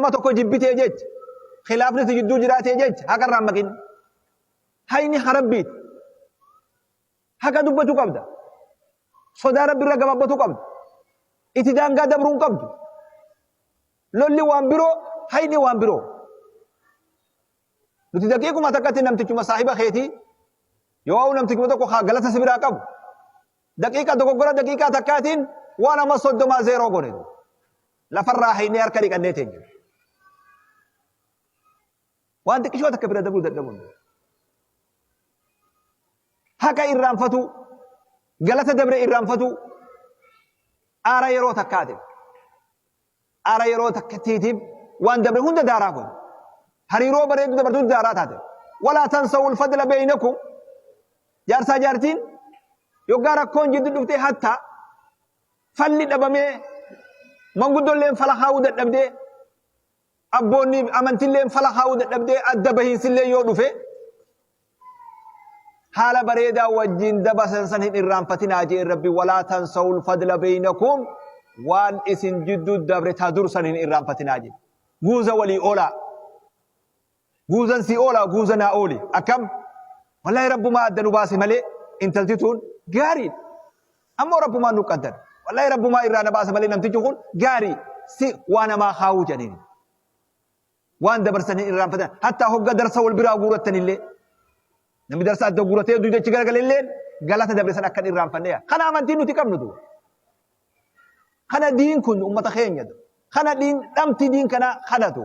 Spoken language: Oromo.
nama tokko jibbitee jecha khilaafni si jidduu jiraatee jecha haqa irraa maqin hayni harabbiiti haqa dubbachuu qabda sodaa rabbi irra gabaabbatuu qabda itti daangaa dabruu hin qabdu lolli waan biroo hayni waan biroo nuti daqiiquma takkatti namtichuma saahiba keetii yoo namtichuma tokko haa galata si biraa qabu daqiiqa dogoggora daqiiqaa takkaatiin waan amma soddomaa zeeroo godhe Lafarraa haynee harka dhiqannee teenya. Waan xiqqishoo takka bira dabruu dadhabuun. Haqa irraanfatuu, galata dabre irraanfatuu, aara yeroo takkaati. Aara yeroo takkattiitiif waan dabre hunda daaraa kun. Hariiroo bareedu dabartuu daaraa taate. Walaa tansawu ulfadla beeynakum. Jaarsaa jaartiin yoggaa rakkoon jiddu dhuftee hattaa Falli dhabamee manguddolleen fala kaa'uu dadhabdee abboonni amantilleen fala kaa'uu dadhabdee adda bahiinsillee yoo dhufe haala bareedaa wajjin dabasan san hin irraanfatinaa jee rabbi walaa tansawul fadla beeynakum waan isin jidduu dabre taa dursan hin irraanfatinaa jee guuza walii oolaa Guuzan sii oolaa guuza naa ooli akkam wallahi rabbumaa adda nu baase malee intalti tuun gaariidha ammoo rabbumaan nu qaddan wallahi rabbumaa irraa na baasa malee namtichi kun gaarii si waa namaa kaawuu jedhaniin waan dabarsan hin irraanfatan hattaa hogga darsa wal biraa guurattanillee namni darsa adda guuratee duyda achi garagalelleen galata dabarsan akka hin irraanfanneya kana amantiin nuti qabnu tu kana diin kun ummata keenya kana diin dhamti diin kana kanatu